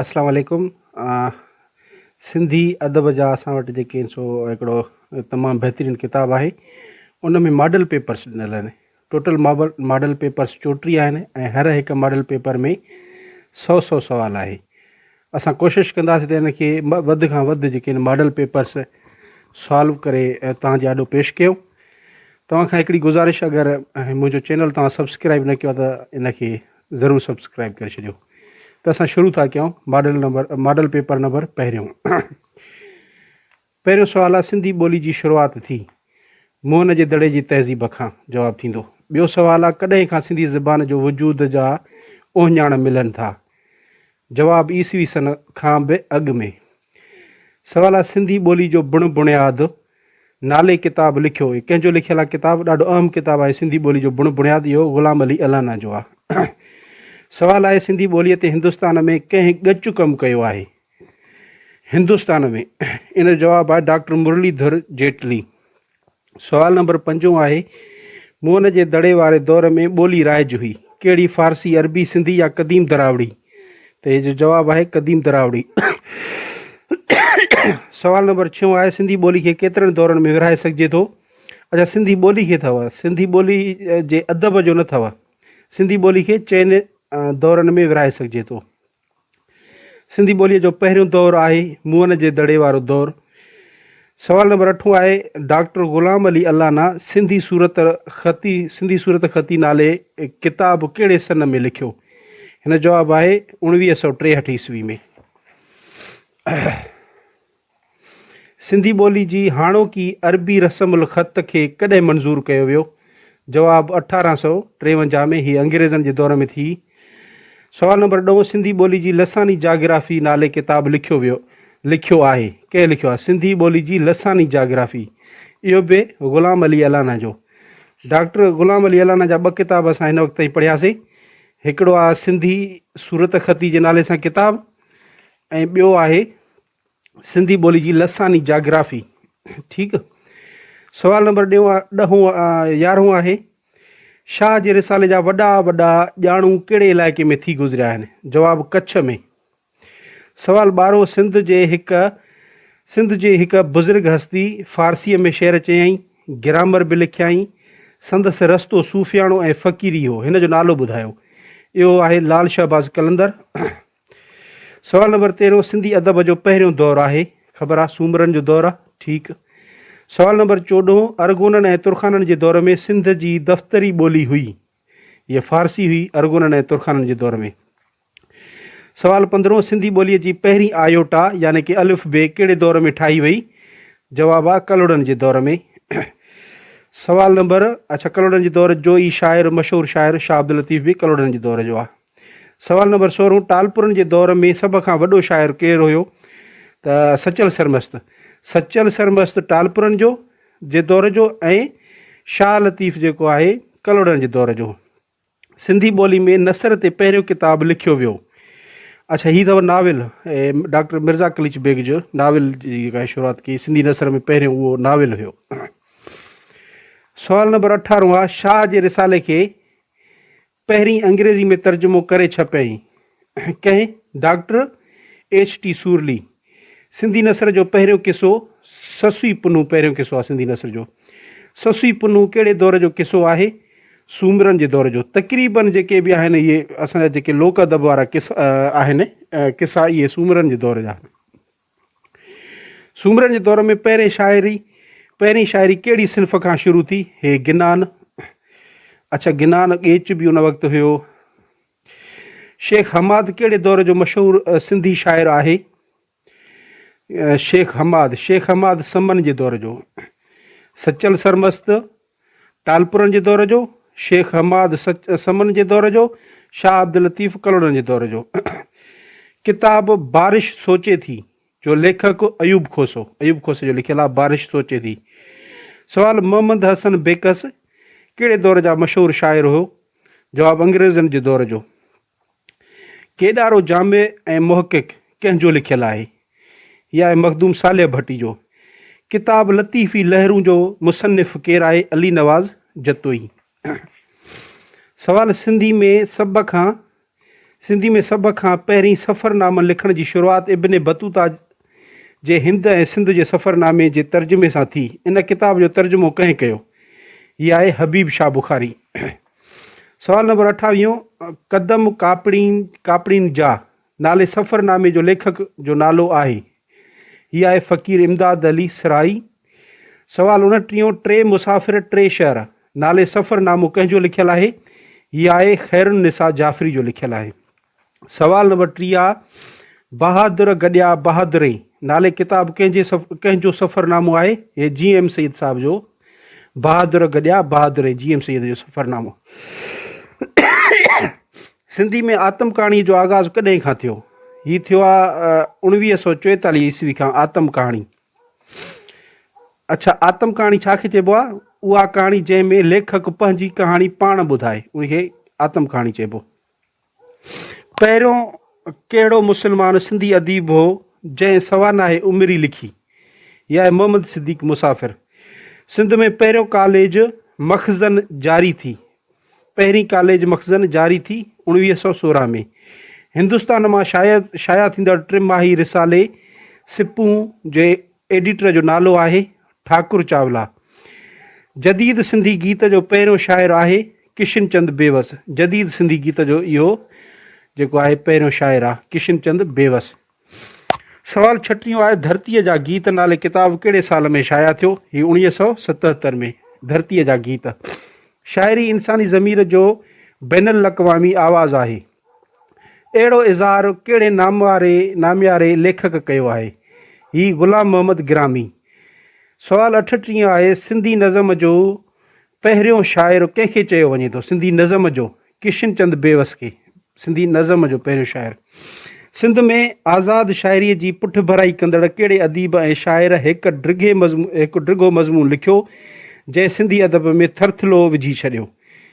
اسلام عليڪم سنڌي ادب جا اسان وٽ جيڪي آهن سو هڪڙو تمام بهترين ڪتاب آهي ان ۾ ماڊل پيپرس ڏنل آهن ٽوٽل مابل ماڊل پيپرس چوٽيهه آهن ۽ هر هڪ ماڊل پيپر ۾ سؤ سؤ سوال آهي اسان ڪوشش ڪنداسين ته ان کي وڌ کان وڌ جيڪي آهن ماڊل پيپرس سالو ڪري توهان جي آڏو پيش ڪيون توهان کان هڪڙي گذارش اگر منهنجو چينل توهان سبسڪرائب نه ڪيو ته ان کي ضرور سبسڪرائب ڪري ڇڏيو ته اسان شروع ٿا ڪيون model number model paper number پهريون پهريون سوال آ سنڌي ٻولي جي شروعات ٿي موهن جي دڙي جي تهذيب کان جواب ٿيندو. ٻيو سوال آ ڪڏهن کان سنڌي زبان جو وجود جا اوهڃاڻ ملن ٿا جواب عيسوي سن کان به اڳ ۾. سوال آ سنڌي ٻولي جو بڻ بڻياد نالي ڪتاب لکيو اهي ڪنهن جو لکيل آ ڪتاب ڏاڍو اهم ڪتاب آهي سنڌي ٻولي جو بڻ بڻياد اهو غلام علي الانا جو آ. سوال آهي سنڌي ٻولي تي هندستان ۾ ڪنهن ڳچ ڪم ڪيو آهي. هندستان ۾ ان جو جواب آهي ڊاڪٽر مرلي ڌر جيٽلي. سوال نمبر پنجون آهي موهن جي دڙي واري دور ۾ ٻولي رائج هئي ڪهڙي فارسي عربي سنڌي يا قديم دراوڙي ته هي جو جواب آهي قديم دراوڙي سوال نمبر ڇهون آهي سنڌي ٻولي کي ڪيترن دورن ۾ ورهائي سگهجي ٿو اچا سنڌي ٻولي کي اٿو سنڌي ٻولي جي ادب جو نه اٿو سنڌي ٻولي کي چئن دورن ۾ ورهائي سگهجي ٿو سنڌي ٻوليء جو پهريون دور آهي موئن جي دڙي وارو دور. سوال نمبر اٺون آهي، ڊاڪٽر غلام علي الانا سنڌي صورت خطي سنڌي صورت خطي نالي ڪتاب ڪهڙي سن ۾ لکيو؟ هن جواب آهي اوڻويهه سؤ ٽيهٺ عيسوي ۾. سنڌي ٻولي جي هاڻوڪي عربي رسم الخط کي ڪڏهن منظور ڪيو ويو؟ جواب اٺارهن سؤ ٽيونجاهه ۾ هي انگريزن جي دور ۾ ٿي. سوال نمبر ڏهون سنڌي ٻولي جي لساني جاگرافي نالي ڪتاب لکيو ويو لکيو آهي ڪنهن لکيو آهي سنڌي ٻولي جي لساني جاگرافي اهو به غلام علي الانا جو ڊاڪٽر غلام علي الانا جا ٻه ڪتاب اسان هن وقت تائين پڙهياسي هڪڙو آ سنڌي صورت خطي جي نالي سان ڪتاب ۽ ٻيو آهي سنڌي ٻولي جي لساني جاگرافي ٺيڪ سوال نمبر ڏيون ڏهون يارهون آهي شاهه جي رسالي جا وڏا وڏا ڄاڻو ڪهڙي علائقي ۾ ٿي گذريا آهن جواب ڪڇ ۾ سوال ٻارهون سنڌ جي هڪ سنڌ جي هڪ بزرگ هستي فارسيء ۾ شعر چيائين گرامر به لکيائين سندس رستو صوفياڻو ۽ فقيري هو هن جو نالو ٻڌايو اهو آهي لال شهباز قلندر سوال نمبر تيرهون سنڌي ادب جو پهريون دور آهي خبر آ سومرن جو دور آ ٺيڪ سوال نمبر چوڏهون ارغونن ۽ ترخانن جي دور ۾ سنڌ جي دفتري ٻولي هئي هيء فارسي هئي ارغونن ۽ ترخانن جي دور ۾ سوال پندرهون سنڌي ٻولي جي پهرين آيوٽا يعني ڪي الف بي ڪهڙي دور ۾ ٺاهي وئي جواب آ ڪلهوڙن جي دور ۾ سوال نمبر اڇا ڪلهوڙن جي دور جو ئي شاعر مشهور شاعر شاهه عبداللطيف به ڪلهوڙن جي دور جو آ سوال نمبر سورهون، ٽالپرن جي دور ۾ سڀ کان وڏو شاعر ڪير هيو؟ ته سچل سرمست. سچل سرمست ٽالپرن جو جي دور جو ۽ شاهه لطيف جيڪو آهي ڪلهوڙن جي دور جو. سنڌي ٻولي ۾ نثر تي پهريون ڪتاب لکيو ويو. اڇا هي اٿو ناول ڊاڪٽر مرزا قليچ بيگ جو ناول جي شروعات ڪئي سنڌي نثر ۾ پهريون اهو ناول هيو سوال نمبر اٺارهون آ شاهه جي رسالي کي پهرين انگريزي ۾ ترجمو ڪري ڇپيائين ڪنهن doctor H T Sorley. Sindhi نثر جو پهريون قصو سسوي پنهون پهريون قصو آهي سنڌي نثر جو. سسوي پنهون ڪهڙي دور جو قصو آهي؟ سومرن جي دور جو. تقريبن جيڪي به آهن اهي اسان جا جيڪي لوڪ ادب وارا قصا آهن قصا اهي سومرن جي دور جا آهن. سومرن جي دور ۾ پهرين شاعري پهرين شاعري ڪهڙي صنف کان شروع ٿي؟ هي گنان اڇا گنان ڳيچ به ان وقت هيو. شيخ حماد ڪهڙي دور جو مشهور سنڌي شاعر آهي؟ شيخ حماد شيخ حماد سمن جي دور جو سچل سرمست ٽالپرن جي دور جو، شيخ حماد سمن جي دور جو، شاهه عبداللطيف ڪلهوڙن جي دور جو. ڪتاب بارش سوچي ٿي جو ليکڪ ايوب کوسو، ايوب کوسي جو لکيل آهي بارش سوچي ٿي. سوال محمد حسن بيڪس ڪهڙي دور جا مشهور شاعر هيو؟ جواب انگريزن جي دور جو. ڪيڏارو جامع ۽ محقق ڪنهن جو لکيل آهي؟ يا اي مخدوم صالح ڀٽي جو؟ ڪتاب لطيفي لهرون جو مصنف ڪير آهي؟ علي نواز جتوئي. سوال، سنڌي ۾ سڀ کان سنڌي ۾ سڀ کان پهرين سفرنامن لکڻ جي شروعات ابن بطوطا جي هند ۽ سنڌ جي سفرنامي جي ترجمي سان ٿي. ان ڪتاب جو ترجمو ڪنهن ڪيو؟ يا اي حبيب شاهه بخاري. سوال نمبر اٺاويهون، قدم ڪاپڙين ڪاپڙين جا نالي سفرنامي جو ليکڪ جو نالو آهي. هي آهي فقير امداد علي سرائي. سوال انٽيهون، ٽي مسافر ٽي شهر نالي سفرنامو ڪنهن جو لکيل آهي؟ هي آهي خيرالنساء جعفري جو لکيل آهي. سوال نمبر ٽيهه بهادر گڏيا بهادري نالي ڪتاب ڪنهن جي سف... ڪنهن جو سفرنامو آهي هي جي ايم سيد صاحب جو بهادر گڏيا بهادري جي ايم سيد جو سفرنامو سنڌي ۾ آتم ڪهاڻي جو آغاز ڪڏهن کان ٿيو هي ٿيو آهي اڻويهه سو چويتاليهه عيسوي کان آتم ڪهاڻي اڇا آتم ڪهاڻي ڇا کي چئبو آهي اها ڪهاڻي جنهن ۾ ليکڪ پنهنجي ڪهاڻي پاڻ ٻڌائي ان کي آتم ڪهاڻي چئبو پهريون ڪهڙو مسلمان سنڌي اديب هو جنهن سوانح عمري لکي؟ يا محمد صديق مسافر. سنڌ ۾ پهريون ڪاليج مخزن جاري ٿي. پهرين ڪاليج مخزن جاري ٿي اوڻويهه سؤ سورهن ۾ هندستان مان شايع ٿيندڙ ٽي ماهي رسالي سپون جي ايڊيٽر جو نالو آهي ٺاڪر چاولا جديد سنڌي گيت جو پهريون شاعر آهي ڪشن چند بيوس جديد سنڌي گيت جو اهو جيڪو آهي پهريون شاعر آهي ڪشن چند بيوس سوال ڇٽيون آهي ڌرتيء جا گيت نالي ڪتاب ڪهڙي سال ۾ شايع ٿيو هي اوڻيهه سؤ ستهتر ۾ ڌرتيء جا گيت شاعري انساني ضمير جو بين الاقوامي آواز آهي اهڙو اظهار ڪهڙي نامواري نامياري ليکڪ ڪيو آهي؟ هي غلام محمد گرامي. سوال اٺٽيهون آهي، سنڌي نظم جو پهريون شاعر ڪنهن کي چيو وڃي ٿو؟ سنڌي نظم جو ڪشن چند بيوس کي سنڌي نظم جو پهريون شاعر. سنڌ ۾ آزاد شاعريء جي پٺڀرائي ڪندڙ ڪهڙي اديب ۽ شاعر هڪ ڊگهي مضمون هڪ ڊگهو مضمون لکيو، جنهن سنڌي ادب ۾ ٿرٿلو وجهي ڇڏيو؟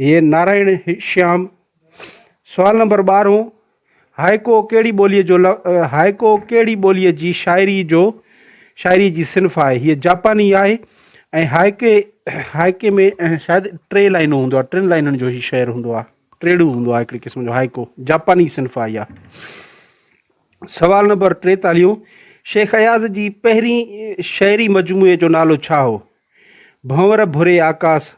هيء نارائڻ شيام. سوال نمبر ٻارهون، هائيڪو ڪهڙي ٻوليء جو هائيڪو ڪهڙي ٻوليء جي شاعري جو شاعريء جي صنف آهي؟ هيء جاپاني آهي ۽ هائيڪي هائيڪي ۾ شايد ٽي لائنون هوندو آهي، ٽن لائنن جو هي شعر هوندو آهي، ٽيڙو هوندو آهي هڪڙي قسم جو هائيڪو، جاپاني صنف آهي اها. سوال نمبر ٽيتاليهون، شيخ اياز جي پهرين شعري مجموعي جو نالو ڇا هو؟ ڀنور ڀوري آڪاس،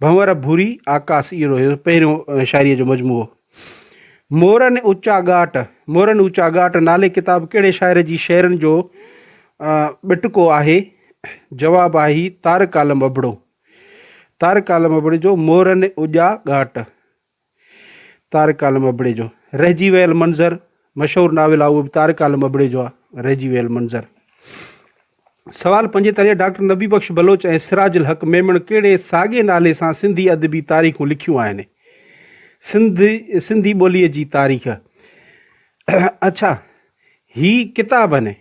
ڀنور ڀوري آڪاس، اهو هيو پهريون شاعريء جو مجموعو. مورن اوچا ڳاٽ، مورن اوچا ڳاٽ نالي ڪتاب ڪهڙي شاعر جي شعرن جو ٻٽڪو آهي؟ جواب آهي طارق عالم ابڙو. طارق عالم ابڙي جو مورن اوڄا ڳاٽ. طارق عالم ابڙي جو رهجي ويل منظر مشهور ناول آهي اهو به طارق عالم ابڙي جو آهي رهجي ويل منظر سوال پنجين تاريخ ڊاڪٽر نبي بخش بلوچ ۽ سراج الحق ميمڻ ڪهڙي ساڳي نالي سان سنڌي ادبي تاريخون لکيون آهن سنڌ سنڌي ٻوليء جي تاريخ اڇا هي ڪتاب آهن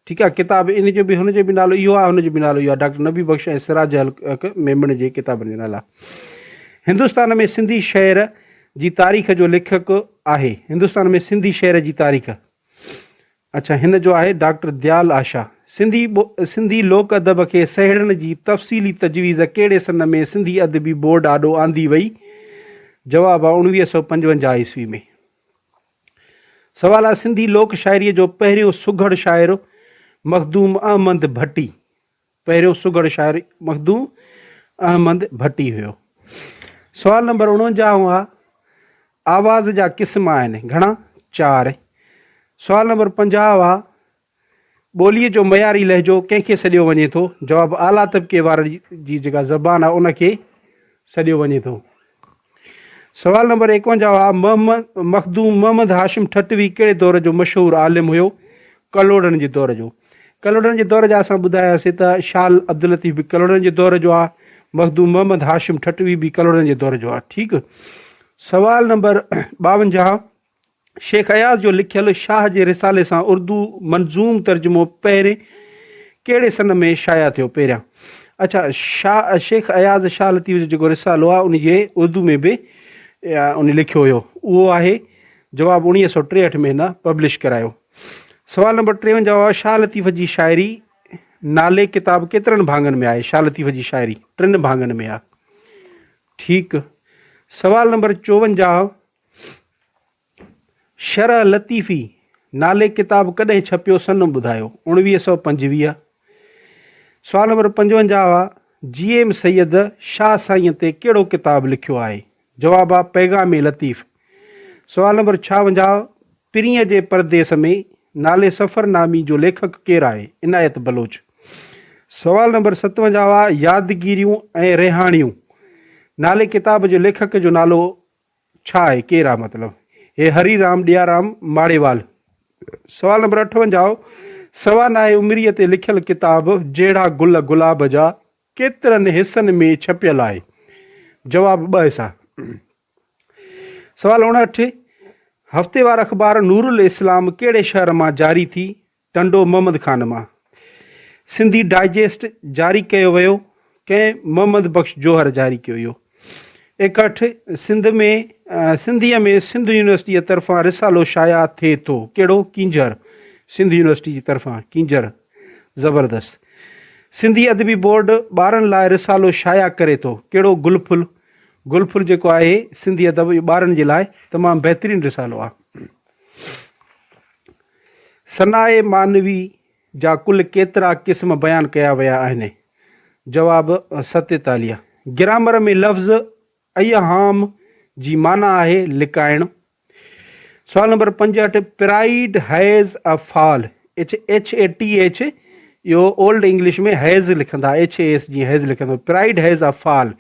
ٺيڪ آهي ڪتاب ان جو به هن جو به نالو اهو آهي هن جو به نالو اهو آهي ڊاڪٽر نبي بخش ۽ سراج الحق ميمڻ جي ڪتابن جا نالا هندستان ۾ سنڌي شهر جي تاريخ جو ليکڪ آهي هندستان ۾ سنڌي شهر جي تاريخ اڇا هن جو آهي ڊاڪٽر ديال آشا سنڌي سنڌي لوڪ ادب کي سهيڙڻ جي تفصيلي تجويز ڪهڙي سن ۾ سنڌي ادبي بورڊ آڏو آندي وئي جواب آهي اڻويهه سؤ پنجونجاهه عيسوي ۾ سوال آهي سنڌي لوڪ شاعريء جو پهريون سگهڙ شاعر مخدوم احمد ڀٽي پهريون سگهڙ شاعر مخدوم احمد ڀٽي هيو سوال نمبر اڻونجاهه هئا آواز جا قسم آهن گهڻا چار سوال نمبر پنجاهه هئا ٻوليء جو معياري لهجو ڪنهن کي سڏيو وڃي ٿو؟ جواب، اعليٰ طبقي وارن جي جيڪا زبان آهي ان کي سڏيو وڃي ٿو. سوال نمبر ايڪونجاهه آ، محمد مخدوم محمد هاشم ٺٽوي ڪهڙي دور جو مشهور عالم هيو؟ ڪلهوڙن جي دور جو. ڪلهوڙن جي دور جا اسان ٻڌاياسين ته شال عبداللطيف به ڪلهوڙن جي دور جو آهي، مخدوم محمد هاشم ٺٽوي به ڪلهوڙن جي دور جو آهي. ٺيڪ. سوال نمبر ٻاونجاهه. شيخ اياز جو لکيل شاهه جي رسالي سان اردو منظوم ترجمو پهرين ڪهڙي سن ۾ شايع ٿيو پهريان اڇا شاهه شيخ اياز شاهه لطيف جو جيڪو رسالو آهي ان جي اردو ۾ به ان لکيو هيو اهو آهي جواب اڻيهه سو ٽيهٺ ۾ هن پبلش ڪرايو سوال نمبر ٽيونجاهه آهي شاهه لطيف جي شاعري نالي ڪتاب ڪيترن ڀاڱن ۾ آهي شاهه لطيف جي شاعري ٽن ڀاڱن ۾ آهي ٺيڪ سوال نمبر چوونجاهه شرح لطيفي نالي ڪتاب ڪڏهن ڇپيو سن ٻڌايو اوڻويهه سؤ پنجويهه سوال نمبر پنجونجاهه آ جي ايم سيد شاهه سائين تي ڪهڙو ڪتاب لکيو آهي جواب آ پيغام لطيف سوال نمبر ڇاونجاهه پرينء جي پرديس ۾ نالي سفر نامي جو ليکڪ ڪير آهي عنايت بلوچ سوال نمبر ستونجاهه آ يادگيريون ۽ ريحاڻيون نالي ڪتاب جو ليکڪ جو نالو ڇا آهي ڪير آ مطلب هي هري رام ڏيارام ماڙيوال. سوال نمبر اٺونجاهه سوا ناهي عمريء تي لکيل ڪتاب جهڙا گل گلاب جا ڪيترن حصن ۾ ڇپيل آهي؟ جواب ٻه حصا. سوال اڻهٺ هفتيوار اخبار نورالاسلام ڪهڙي شهر مان جاري ٿي ٽنڊو محمد خان مان سنڌي ڊائجسٽ جاري ڪيو ويو ڪنهن محمد بخش جوهر جاري ڪيو اهو اڪٺ سنڌ ۾ سنڌيء ۾ سنڌ يونيورسٽيء طرفان رسالو شايع ٿئي ٿو ڪهڙو ڪينجهر سنڌ يونيورسٽي جي طرفان ڪينجهر زبردست سنڌي ادبي بورڊ ٻارن لاء رسالو شايع ڪري ٿو ڪهڙو گل ڦل گل ڦل جيڪو آهي سنڌي ادب ٻارن جي لاء تمام بهترين رسالو آهي ثناء معنوي جا ڪل ڪيترا قسم بيان ڪيا ويا آهن؟ جواب، ستيتاليهه. گرامر ۾ لفظ ايهام جي معنيٰ آهي لڪائڻ. سوال نمبر پنجهٺ، پرائيڊ هيز اي فال، اچ ايڇ اي ٽي ايڇ، اهو اولڊ انگلش ۾ هيز لکندا، ايڇ اي ايس جي هيز لکندا، پرائيڊ هيز اي فال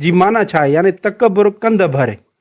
جي معنيٰ ڇا آهي؟ يعني تڪبر ڪنڌ ڀر.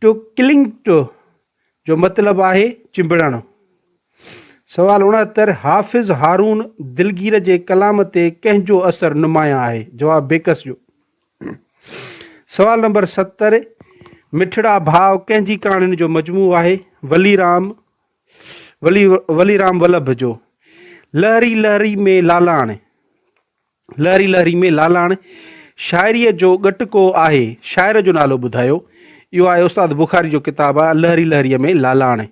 ٽو ڪلنگ ٽو جو مطلب آهي چنبڙڻ. سوال اڻهتر، حافظ هارون دلگير جي ڪلام تي ڪنهن جو اثر نمايان آهي؟ جواب، بيڪس جو. سوال نمبر ستر، مٺڙا ڀاء ڪنهن جي ڪهاڻين جو مجموعو آهي؟ ولي رام ولي ولي رام ولڀ جو. لهري لهري ۾ لالاڻ. لهري لهري ۾ لالاڻ شاعريء جو ڳٽڪو آهي، شاعر جو نالو ٻڌايو؟ اهو آهي استاد بخاري جو ڪتاب آهي لهري لهريء ۾ لالاڻ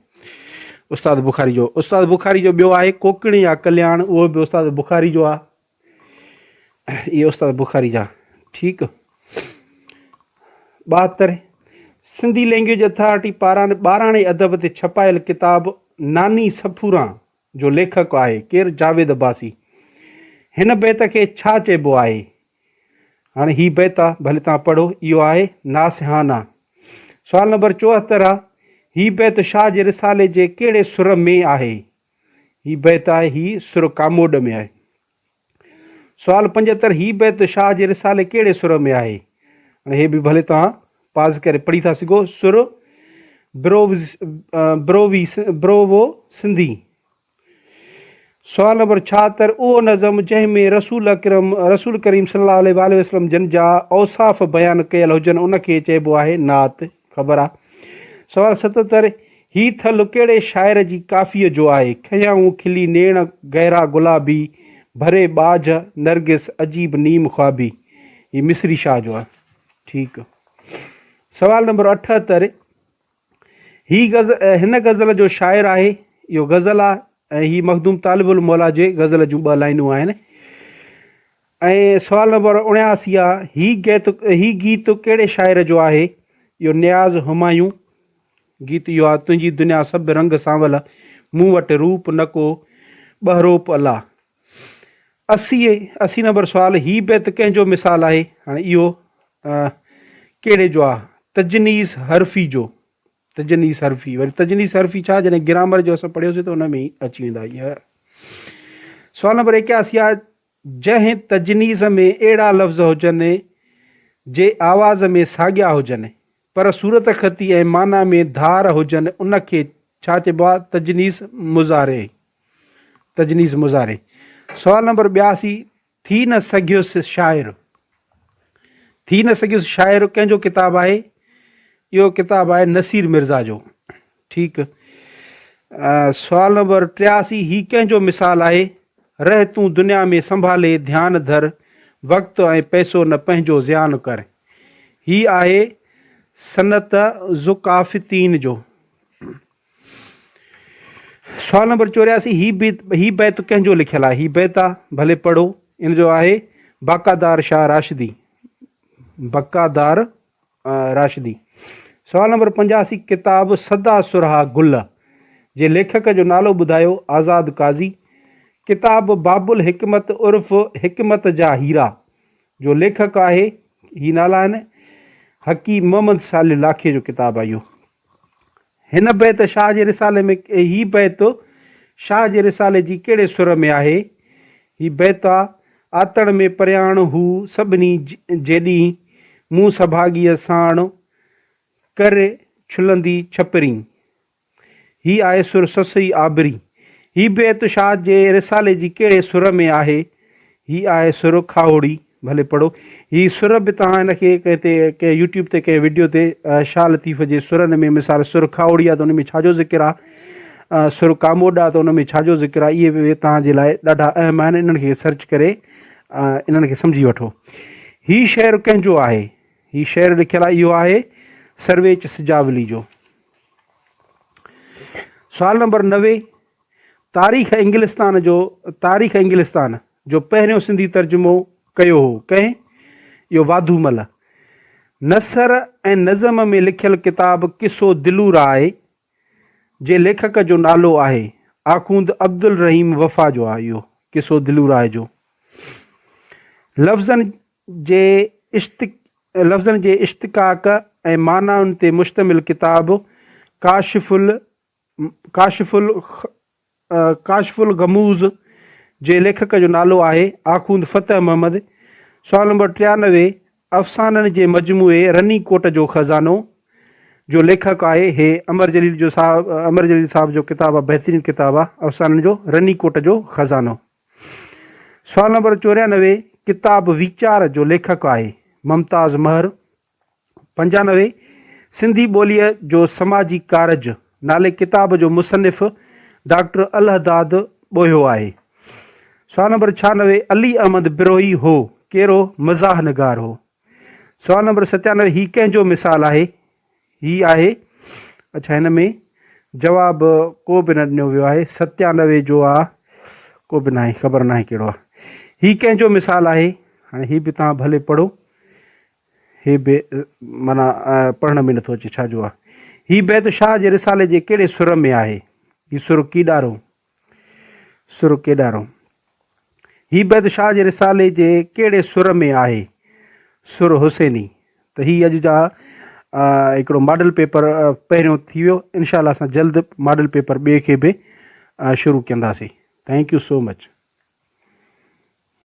استاد بخاري جو استاد بخاري جو ٻيو آهي ڪوڪڻي يا ڪلياڻ اهو به استاد بخاري جو آهي اهي استاد بخاري جا ٺيڪ ٻاهتر سنڌي لينگويج اٿارٽي پاران ٻاراڻي ادب تي ڇپايل ڪتاب ناني سفوران جو ليکڪ آهي ڪير جاويد عباسي هن بيت کي ڇا چئبو آهي هاڻي هي بيت آ ڀلي تان پڙهو اهو آهي ناصحانه سوال نمبر چوهتر آ هي بيت شاهه جي رسالي جي ڪهڙي سر ۾ آهي هي بيت آهي هي سر ڪاموڏ ۾ آهي سوال پنجهتر هي بيت شاهه جي رسالي ڪهڙي سر ۾ آهي ۽ هي به ڀلي توهان پاز ڪري پڙهي ٿا سگهو سر بروز بروي بروو سنڌي سوال نمبر ڇاهتر اهو نظم جنهن ۾ رسول اڪرم رسول ڪريم صلي الله عليه وسلم جن جا اوصاف بيان ڪيل هجن ان کي چئبو آهي نعت خبر آ. سوال ستتر، هي ٿلهه ڪهڙي شاعر جي ڪافيء جو آهي؟ کنيائون کلي نيڻ گهرا گلابي، ڀري ٻاجهه نرگس عجيب نيم خوابي. هي مصري شاهه جو آهي. ٺيڪ. سوال نمبر اٺهتر، هي غزل هن غزل جو شاعر آهي. اهو غزل آ ۽ هي مخدوم طالب الموليٰ جي غزل جون ٻه لائنون آهن. ۽ سوال نمبر اڻياسي آ هي گيت هي گيت ڪهڙي شاعر جو آهي اهو نياز همايون گيت اهو آ تنهنجي دنيا سڀ رنگ سانول مون وٽ روپ نڪو ٻهروپ الله اسي اسي نمبر سوال هي بيت ڪنهن جو مثال آهي هاڻي اهو ڪهڙي جو آ تجنيس حرفي جو تجنيس حرفي وري تجنيس حرفي ڇا جڏهن گرامر جو اسان پڙهيوسي ته ان ۾ اچي ويندا سوال نمبر اڪياسي آ جنهن تجنيس ۾ اهڙا لفظ هجن جي آواز ۾ ساڳيا هجن پر صورتخطي ۽ معنيٰ ۾ ڌار هجن ان کي ڇا چئبو آهي تجنيس مضارع تجنيس مضارع سوال نمبر ٻياسي ٿي نه سگهيس شاعر ٿي نه سگهيس شاعر ڪنهن جو ڪتاب آهي اهو ڪتاب آهي نصير مرزا جو ٺيڪ. سوال نمبر ٽياسي هي ڪنهن جو مثال آهي؟ رهه تون دنيا ۾ سنڀالي ڌيان ڌر، وقت ۽ پئسو نه پنهنجو ضياء نه ڪر. هي آهي سنت ذوقافتين جو. سوال نمبر چورياسي هي بيت هي بيت ڪنهن جو لکيل آهي؟ هي بيت آ ڀلي پڙهو ان جو آهي بقادار شاهه راشدي. بقادار راشدي. سوال نمبر پنجاسي ڪتاب سدا سرها گل جي ليکڪ جو نالو ٻڌايو آزاد قاضي ڪتاب باب الحڪمت عرف حڪمت جا هيرا جو ليکڪ آهي هي نالا آهن حڪيم محمد صالح لاکي جو ڪتاب آهي اهو هن بيت شاهه جي رسالي ۾ هي بيت شاهه جي رسالي جي ڪهڙي سر ۾ آهي؟ هي بيت آ آتڻ ۾ پرياڻ هو سڀني جيڏينهن مون سڀاڳيء ساڻ ڪر ڇلندي ڇپرين هي آهي سر سسئي آبري هي بيت شاهه جي رسالي جي ڪهڙي سر ۾ آهي؟ هي آهي سر کاهوڙي ڀلي پڙهو هي سر به توهان ان کي ڪنهن تي ڪنهن يوٽيوب تي ڪنهن وڊيو تي شاهه لطيف جي سرن ۾ مثال سر کاهوڙي آ ته ان ۾ ڇا جو ذڪر آ سر ڪاموڏ آ ته ان ۾ ڇا جو ذڪر آ اهي به توهان جي لاء ڏاڍا اهم آهن انهن کي سرچ ڪري انهن کي سمجهي وٺو هي شعر ڪنهن جو آهي هي شعر لکيل آ اهو آهي سرويچ سجاولي جو سوال نمبر نوي تاريخ انگلستان جو تاريخ انگلستان جو پهريون سنڌي ترجمو ڪيو هو ڪنهن؟ اهو واڌو مل. نثر ۽ نظم ۾ لکيل ڪتاب قصو دلو راء جي ليکڪ جو نالو آهي آخوند عبدالرحيم وفا جو آهي اهو قصو دلو راء جو لفظن جي اشتق لفظن جي اشتقاق ۽ معنائن تي مشتمل ڪتاب ڪاشف ال ڪاشف ڪاشف الغموض جي ليکڪ جو نالو آهي آخوند فتح محمد، سوال نمبر ٽيانوي، افسانن جي مجموعي رني ڪوٽ جو خزانو جو ليکڪ آهي هي امر جليل جو صاحب امر جليل صاحب جو ڪتاب آهي بهترين ڪتاب آهي افسانن جو رني ڪوٽ جو خزانو سوال نمبر چوريانوي ڪتاب ويچار جو ليکڪ آهي ممتاز مهر پنجانوي، سنڌي ٻوليء جو سماجي ڪارج نالي ڪتاب جو مصنف ڊاڪٽر الهداد ٻوهيو آهي. سوال نمبر ڇهانوي، علي احمد بروهي هو ڪهڙو مزاح نگار هو؟ سوال نمبر ستيانوي، هي ڪنهن جو مثال آهي؟ هي آهي اڇا هن ۾ جواب ڪو به نه ڏنو ويو آهي ستيانوي جو آ ڪو به ناهي خبر ناهي ڪهڙو آ هي ڪنهن جو مثال آهي هاڻي هي به تان ڀلي پڙهو هي بي معنيٰ پڙهڻ ۾ نٿو اچي، ڇا جو آ؟ هي بيت شاهه جي رسالي جي ڪهڙي سر ۾ آهي؟ هي سر ڪيڏارو؟ سر ڪيڏارو؟ هي بيت شاهه جي رسالي جي ڪهڙي سر ۾ آهي؟ سر حسيني؟ ته هي اڄ جا هڪڙو ماڊل پيپر پهريون ٿي ويو انشاء الله اسان جلد ماڊل پيپر ٻئي کي به شروع ڪنداسي ٿينڪ يو سو مچ